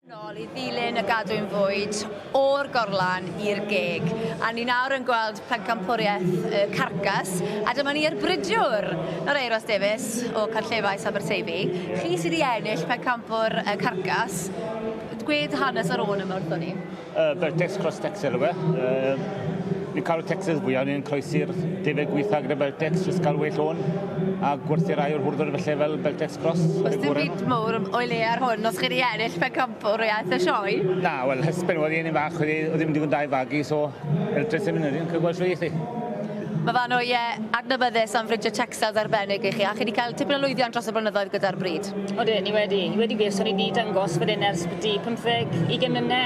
nol i ddilyn y gadwyn fwyd o'r gorlan i'r geg. A ni nawr yn gweld pencampwriaeth y carcas, a dyma ni ar bridiwr yr Euros Davies o Carllefais Aberteifi. Chi sydd wedi ennill pencampwr y carcas, gwed hanes yr ôl yma wrthon ni. Uh, Bertes Cross Texel yw e. Uh, Ni'n cael y tecsys fwya, ni'n croesi'r deuddeg wyth ag y Beltex jyst cael well on a gwerthu rai o'r hwrdwr felly fel Beltex Cross. Oes dim byd mowr o'i le ar hwn os chi di ennill pencampwriaeth y sioe? Na, wel hysben oedd hi yn un fach oedd hi ddim digon da i fagu so fel dressing yn yr un cael gweld shwt eith hi. Mae fan o ie adnabyddus am fridio tecsils arbennig i chi a chi di cael tipyn o lwyddiant dros y blynyddoedd gyda'r bryd. Odyn, ni wedi, ni wedi wir, so ni di dangos fan hyn ers byti pymtheg, ugen mlyne.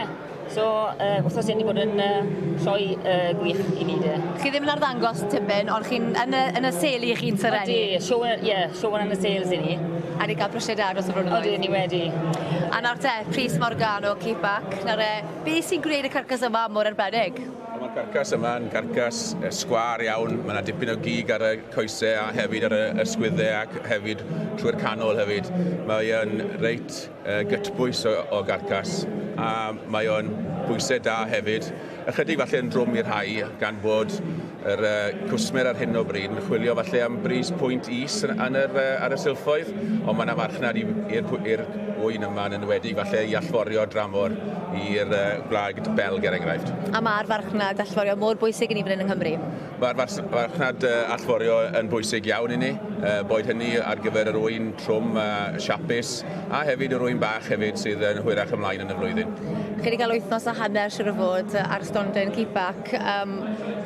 So, uh, wrthos hyn i bod yn uh, sioe uh, gwych i ni de. Chi ddim yn arddangos tipyn, ond chi'n yn y, yn y sel i chi'n tyrennu. Ie, sioen, yeah, sioen yn y sales i ni. A ni gael prosiau da dros y flynyddoedd. Oedden ni wedi. A nawr te, Pris Morgano, keep back. Nawr e, be sy'n gwneud y carcas yma mor arbennig? Mae'r carcas yma yn carcas sgwar iawn. Mae yna dipyn o gig ar y coesau a hefyd ar y ysgwyddau ac hefyd trwy'r canol hefyd. Mae'n reit gytbwys o garcas a mae o'n bwysau da hefyd. Ychydig falle yn drwm i'r rhai gan fod yr uh, cwsmer ar hyn o bryd yn chwilio falle am bris pwynt is yn yr, uh, ar y silffoedd, ond mae yna farchnad i'r wyn yma yn enwedig falle i allforio dramor i'r uh, gwlad Belg er enghraifft. A mae'r farchnad allforio mor bwysig i ni fan hyn yng Nghymru? Mae'r farchnad allforio yn bwysig iawn i ni, boed hynny ar gyfer yr ŵyn trwm a siapus, a hefyd yr ŵyn bach hefyd sydd yn hwyrach ymlaen yn y flwyddyn. Chi wedi cael wythnos a hanner siŵr o fod ar stondin Keepback, yym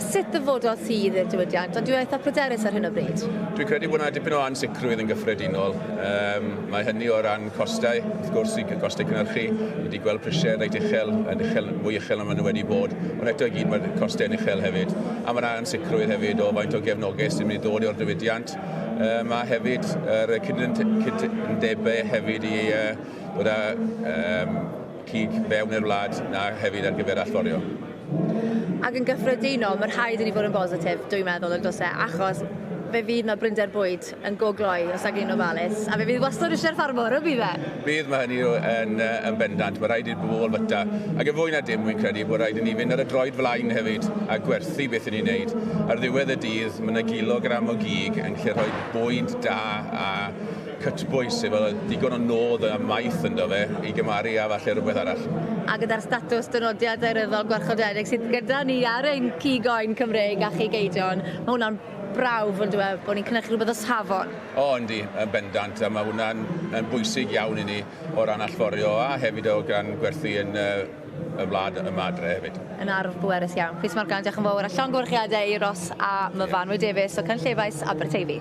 sut ddyfododd ti i'r diwydiant, ond dwi eitha' pryderus ar hyn o bryd? Dwi'n credu bod 'na dipyn o ansicrwydd yn gyffredinol, yym. Mae hynny o ran costau, wrth gwrs, y costau cynhyrchu. Ni wedi gweld prisiau reit uchel, yn uchel, yn fwy uchel na maen nhw wedi bod, ond eto i gyd mae'r costau yn uchel hefyd. A mae yna ansicrwydd hefyd o faint o gefnogaeth sy'n mynd i ddod o'r diwydiant. Um, a hefyd yr uh, cydundebau hefyd i uh, bod â um, cig fewn i'r wlad na hefyd ar gyfer allforio. Ac yn gyffredinol, mae rhaid i ni fod yn bositif, dwi'n meddwl, yn dos e, achos fe fydd yna brinder bwyd yn go gloi os ag yn ofalus, a fe fydd wastod eisiau'r ffarmwr, y bydd e? Bydd, mae hynny yn, yn bendant. Mae rhaid i'r bobl fwyta. Ac yn fwy na dim, wy'n credu bod rhaid i ni fynd ar y droed flaen hefyd a gwerthu beth yn ei wneud. Ar ddiwedd y dydd, mae yna gilogram o gig yn gallu rhoi bwyd da a cytbwys, efo digon o nod a maeth ynddo fe, i gymaru â falle rhywbeth arall. A gyda'r statws dynodiad daearyddol gwarchodedig sydd gyda ni ar ein cig oen Cymreig a chig eidion, mae hwnna'n brawf on'd yw e, bod ni'n cynhyrchu rhywbeth o safon? O yndi, yn bendant, a mae hwnna'n yn bwysig iawn i ni o ran allforio a hefyd o ran gwerthu yn y y wlad yma adre hefyd. Yn arf bwerus iawn. Pris Morgan, diolch yn fawr a llongyfarchiadau i Ros a Myfanwy Davies o Cynllefais Aberteifi.